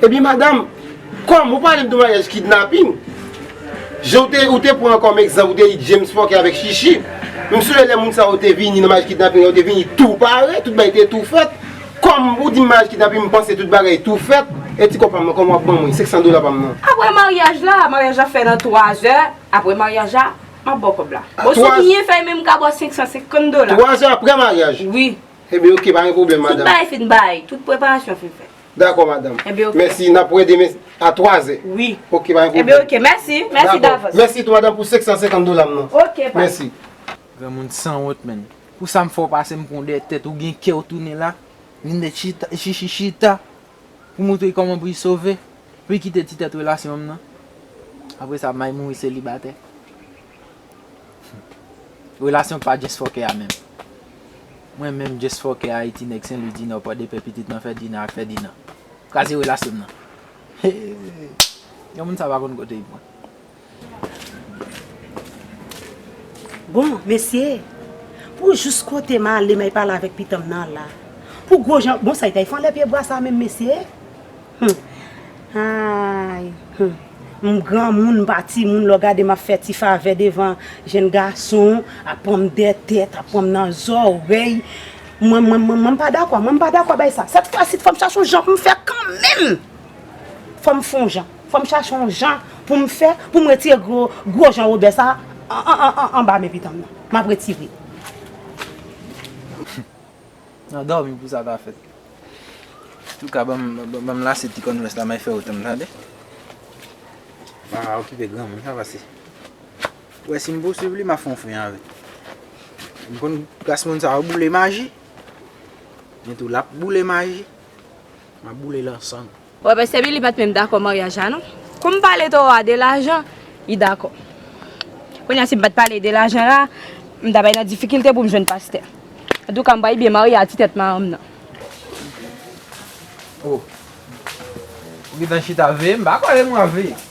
Ebyen madam, kòm ou pale m de maryaj kidnaping, jan w te ou te pran kòm egzanp ou te di James fòkè avèk Shishi, m sonje lè moun sa yo te vini nan maryaj kidnaping yo te vini tou pare, tout bagay te tou fèt, kòm ou di m maryaj kidnaping m panse tout bagay tou fèt, e ti kòb pa m nan kòman w ap ban mwen 500 dola pa m nan? Aprè maryaj la, maryaj la fè nan 3 zè, aprè maryaj la, m ap ba w kòb la. Bon si w byen fè menm m ka ba w 550 dola. 3 zè aprè maryaj? Wi. Enben ok pa gen pwoblèm madam. Tout bagay fin bay, tout preparasyon fin fèt. Dakò madam. Enben ok. Mèsi, nap wè demen a 3 zè. Wi. Ok pa gen pwoblèm. Enben ok, mèsi, mèsi davans. Mèsi tou madam pou 550 dola m nan. Ok pa. Mèsi. Granmoun sanwont menn. Pou sa m fè w pase m pran w dèyè tèt ou gen kè w tounen la, vin mèt chita, chichi chita pou moutre kòman pou y sove, pou y kite ti tèt relasyon m nan. Apresa may mouri selibatè. Relasyon pa just fòkè a menm. Mwen menm just fòkè Ayiti nèg Senlwi Dinò Pòdepè pitit nan Fèdinan ak Fèdinan. Kraze relasyon m nan. Hee yon moun sa pa konn kote li pran. Bon mesye Pou jous kote m ale m ay pale avèk pitanm nan la Pou gwo jan bon sa li t ay fè anlè pye bwa sa menm mesye. Humm ayy humm m granmoun m pa timoun lè w gade m ap fè ti favè devan jenn gason ap pran m dèyè tèt ap pran m nan zòrèy mwen mwen mwen m pa dakò mwen m pa dakò bay sa sèt fwasit fò m chache yon jan pou m fè kanmenm fò m fon jan fò m chache yon jan pou m fè pou m retire gwo gwo jan wobè sa anba men pitanm nan m ap retire. Nan dòmi pou sa ta fèt. Antouka banm lase ti converse la may fè otanm tande. Vava okipe granmoun sa pase. Ou wè sim pouswiv li ma fon fren avèl. M konn klas moun sa yo boule maji. Men tou lap boule maji. Map boule lansan. Wè pastè Billy pat menm dakò maryaj la non. Kou m pale toro a de lajan, li dakò. Kounye a si m pat pale de lajan la, m ta bay nan difikilte pou m jwenn pastè. Antouka m bay byen marye a ti tèt maranm nan. Oh. Ou gentan chita veye m pa kwè e m wap veye.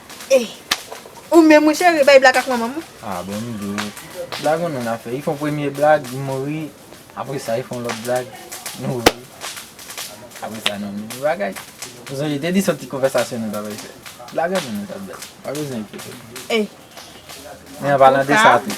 Ey ou menm wi cheri bay blag ak manmanm ou. Ah bon nou 2 blag yon moun ap fè li fon premye blag li mouri apre sa li fon lòt blag li mouri apre sa nou menm bagay ou sonje te di son ti konvèsasyon nou ta bay fè blag yon moun nou tap bay pa bezwen enkyetew ey men an palan de sa tou.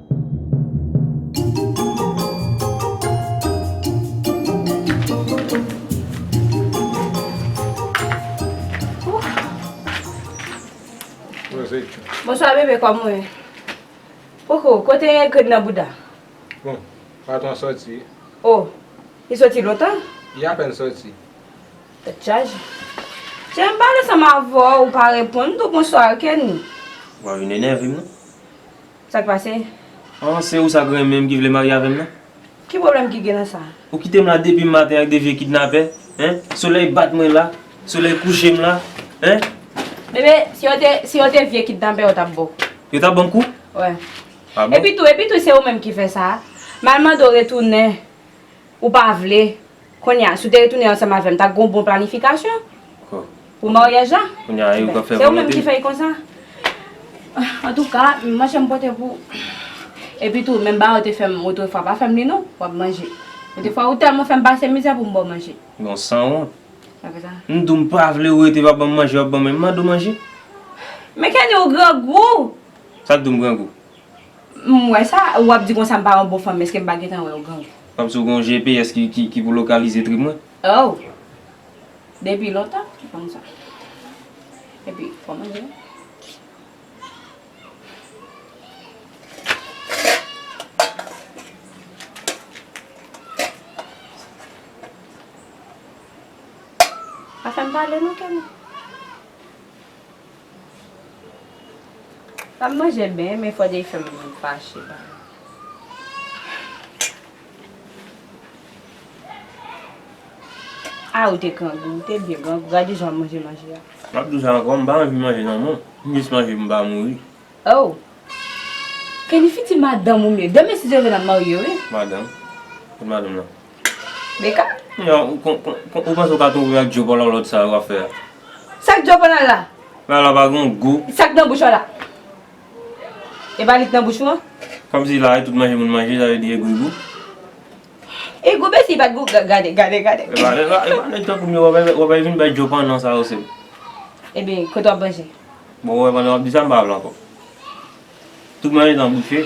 Bonswa bebe kòman ou ye? Koukou kote egret nan bouda? Bon patron an sòti wi. Oh li sòti lontan? Li apèn sòti. Tèt chaje. Chéri m pale ansanm avèw ou pa reponn m di w bonswa kenny. Wap vin enève m non. Sak pase? An, se ou sa k renmen m ki vle marye avè m nan? Ki pwoblèm ki gen nan sa? Ou kite m la depi maten ak de vye kidnapè, hein? Solèy bat mwen la, solèy kouche m la, hein? Bebe, si yo te, si yo te vye kidnapè yo t ap ba w. Yo t ap ban m kou? Wè. Ah bon? Epi tou, epi tou se ou menm ki fè sa. M al mande w retounen, ou pa vle. Kounye a, si w te retounen ansanm avè m, ta gen yon bon planifikasyon pou maryaj la. Se ou menm ki fè l konsa. Antouka, manje m pote pou ou. Epi tou, menm bagay ou te fè m otrefwa, pa fè m li non. W ap manje. Otrefwa, ou tèlman fè m pase mizè pou m ba w manje. Gon sanwont. M di w m pa vle ou rete pa ban m manje, w ap ban m men. M mande w manje. Men Kenny, ou grangou! Sa k di w m grangou? M wè sa ou ap di konsa m pa yon bon fanm eske m pa gentan wè ou gen w. Fanm si w gen yon GPS ki pou lokalize trip mwen. Oh! Depi lontan m konn sa. Epi fò manje. Pa fè m pale non Kenny. Lap manje byen men fò Jay fèm fache ba. Ah ou te grangou, ou te byen grangou, gade jan wap manje manje a. Map diw sa ankò, m pa anvi manje nan mwen, m jis manje pou m pa mouri. Oh! Kenny fiti madanm ou m ye, demen si Dieu veut nap marye wi. Madanm? Kot madanm lan? Mika? Ou panse ou ka twouve ak djòp alalòt sa yo wap fè a? Sak djòp alala? Bagay la pa gen gou. Sak nan bouch ou ala? E pa li k nan bouch ou an? Kòm si la e tout manje moun manje sa vle di e gou e gou? E gou mensi pat gou gade gade gade. E pa e pa nèg tankoum yo wap al vin bay djòp an nan sa yo sèm. Ebyen kote wap manje? Bon ou wè pandan wap di sa m pa vle ankò. Tout manje nan bouch e.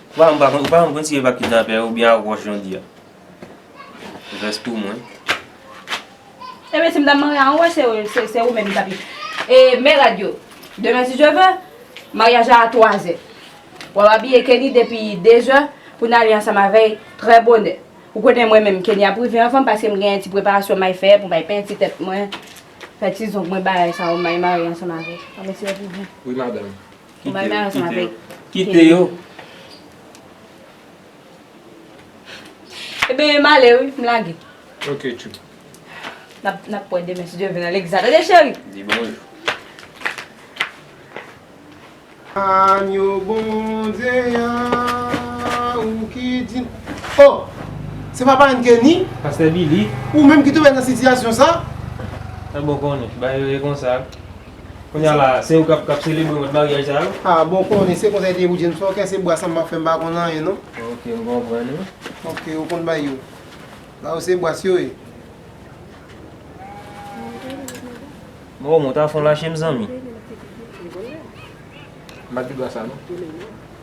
Papa m pa konn papa m konn si yo pa kidnapè ou byen ak wòch jan w di a vès tou mwen. Ebyen si m ta marye an wòch se ou menm ki tap e men rad yo demen si Dye vè maryaj la a 3 zè wap abiye Kenny depi 2 zè pou n ale ansanm avèy trè bonè ou konnen mwen menm Kenny ap rive anvan m paske m gen ti preparasyon may fè pou may penti tèt mwen fè ti zong mwen bagay sa yo may marye ansanm avèw an mesye wi madanm. Kite yo, kite yo. Kite yo. E ben, m ale wi, m lage. Ok, chou. N ap wè demen si Dye vle nan Legliz la. Tande cheri? Di bonjou. Agno Bondye a, ou ki di. Oh! Se pa parann Kenny? Pastè Billy. Ou menm ki tonbe nan sitiyasyon sa? Sa bon konnen. Ba yo ye konsa. Kounya la se ou kap kap selebre mòd maryaj sa yo? Ah bon konnen se konsa li te ye pou James ok se bwa sa m ap fè m pa konn anyen non. Ok m konprann wi. Ok ou konn bay yo. Sa yo se bwa yo ye. Bon ou mwen ta fon lache m zanmi. M pa di bwa sa non.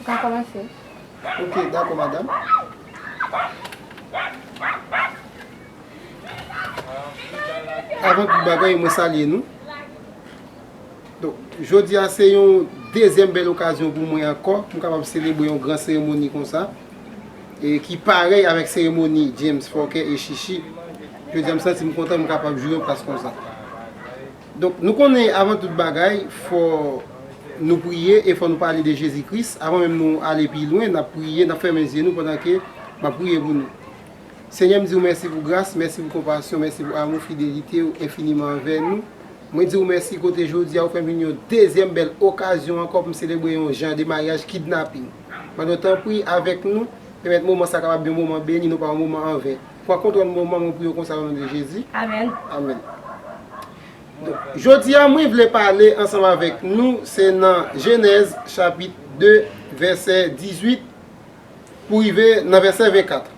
Ou ka kòmanse. Ok, dakò madam. Avan tout bagay, mwen salye nou. Donk, jodi a se yon dezyèm bèl okazyon pou mwen ankò pou m kapab selebre yon gran seremoni konsa e ki parèy avèk seremoni James Fòkè e Shishi. Jodi a m santi m kontan m kapab jwe yon plas konsa. Donk nou konnen avan tout bagay fò Nou priye e fò nou pale de Jezi Kris avan menm nou ale pi lwen nap priye nap fèmen zye nou pandan ke map priye pou nou Senyè m diw mèsi pou gras mèsi pou konpasyon mèsi pou amou fidelitew enfiniman anvè nou mwen diw mèsi kote jodia ou fèm jwenn yon dezyèm bèl okazyon ankò poum selebre yon jan de maryaj kidnaping Mande w tanpri avèk nou pèmèt moman sa kapab yon moman beni non pa yon moman anven. Pran kontwòl mwen manman pou yo konsa onon de jezi amen jodia mwen vle pale ansanm avèk nou se nan jenèz chapit 2 vèsè 18 pou rive nan vèsè 24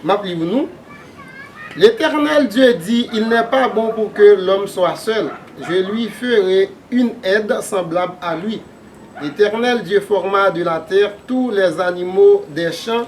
map li pou nou letènèl dye di il nè pa bon pou ke lòm swa sèl je lwi fere yn èd sanblab a lwi letènèl dye fòma de la tè tou lèzanimo dè chan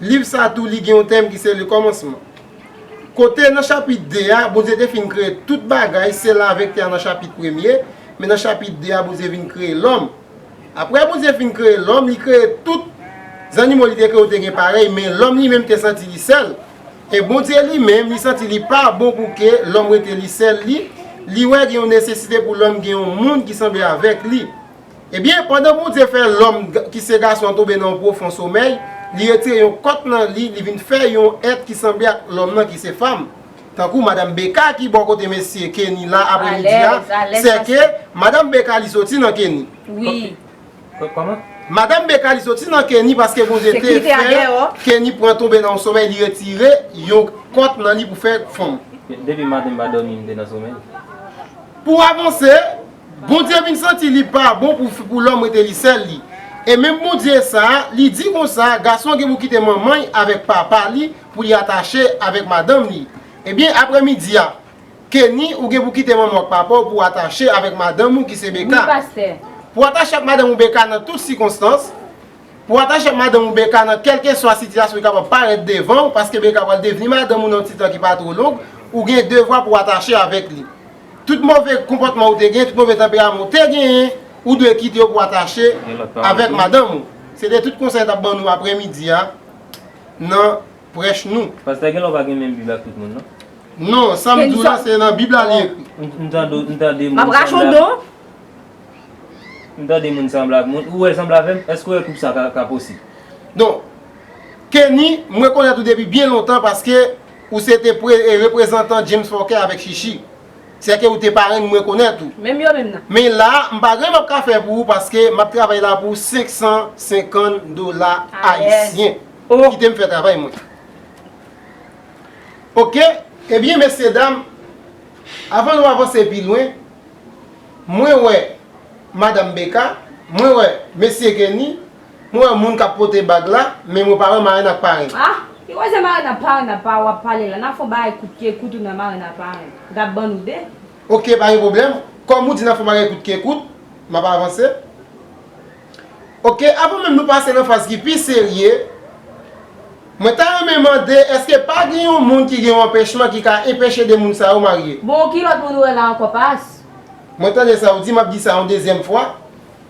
Liv sa a tou li gen yon tèm ki se Le Commencement. Kote nan chapit 2 a, Bondye te fin kreye tout bagay, se la avèk tè a nan chapit premye, men nan chapit 2 a Bondye vin kreye lòm. Aprè Bondye fin kreye lòm, li kreye tout, zannimo li te kreye yo te gen parèy, men lòm li menm te santi li sèl. E Bondye li menm, li santi li pa bon pou ke lòm rete li sèl li, li wè gen yon nesesite pou lòm gen yon moun ki sanble avèk li. Ebyen, pandan Bondye fè lòm ki se gason an tonbe nan yon pwofon somèy, li retire yon kòt nan li, li vin fè yon èt ki sanble ak lòm nan ki se fanm. Tankou Madam Becca ki bò kote mesye Kenny la aprè midi a, sè ke Madam Becca li soti nan Kenny. Madam Becca li soti nan Kenny paske Bondye te fè Kenny pran tonbe nan yon somèy li retire yon kòt nan li pou fè fanm. Pou avanse, Bondye vin santi li pa bon pou lòm rete li sèl li. E menm Bondye sa a, li di konsa, gason gen pou kite manman l avèk papa li pou li atache avèk madanm li. Ebyen, apre midi a, Kenny, ou gen pou kite manman w ak papa w pou w atache avèk madanm ou ki se Becca. Pou w atache ak madanm ou Becca nan tout sikonstans. Pou w atache ak madanm ou Becca nan kèlkeswa sitiyasyon ki kapab parèt devan w, paske Becca pral devni madanm ou nan yon ti tan ki pa two long, ou gen devwa pou w atache avèk li. Tout move konpòtman ou te gen, tout move tanperaman ou te genyen, ou dwe kite yo pou atache avèk madanm ou. Se te tout konsèy tap ban nou aprè midi a nan prèch nou. Pastè gen lè ou pa gen menm bib ak tout moun non. Non, sam diw la se nan bib la li ekri. M tande m tande moun sanblab. M tande moun sanblab moun. Ou wèl sanble avèm? Èske ou wè koup sa ka posib? Don, Kenny, m rekonèt ou depi byen lontan paske. Ou se te pre e reprezantan James Fòkè avèk Chichi. Sè ke ou te parenn mwen konèt ou. Menm yo menm nan. Men la, m pa gen m ap ka fè pou ou paske m ap travay la pou 550 dola ayisyen. Alèz. Kite m fè travay mwen. Ok, ebyen mesyedam, avan nou avanse pi lwen, mwen wè Madam Becca, mwen wè Mesye Kenny, Mwen wè moun kap pote bag la, men mwen pa wè marenn ak paren. Ah! Ki koze marenn ak paren ap pa wap pale la? Nap fon bagay kout ke kout ou nan marenn ak paren. Gap ban nou de. Ok pa gen pwoblèm. Kòm ou di nap fon bagay kout ke kout, map avanse. Ok avan menm nou pase nan faz ki pi serye, mwen ta renmen mande eske pa gen yon moun ki gen yon anpèchman ki ka enpeche de moun sa yo marye? Bon ki lòt moun ou wè la ankò Pas? Mwen tande sa ou di, map di sa yon dezyèm fwa.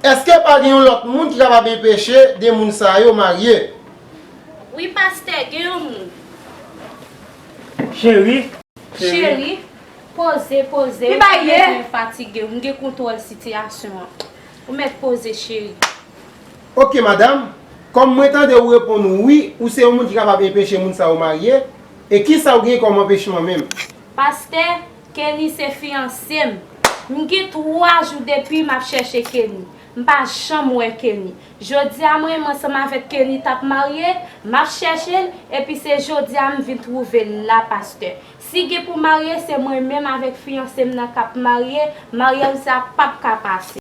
Eske pa gen yon lot moun ki kapab enpeche 2 moun sa yo marye. Wi pastè gen yon moun. Cheri. Cheri. Poze poze ou pa bezwen fatige ou gen kontwòl sitiyasyon an. Ou mèt poze cheri. Ok madam, kòm mwen tande ou reponn wi ou se yon moun ki kapab enpeche moun sa yo marye, e kisa ou gen kòm anpechman menm? Pastè Kenny se fiyanse m. M gen 3 jou depi map chèche Kenny. M pa janm wè Kenny. Jodi a mwen ansanm avèk Kenny tap marye, map chèche l epi se jodi a m vin twouve l la pastè. Si gen pou marye se mwen menm avèk fiyanse m nan kap marye, maryaj sa pap ka pase.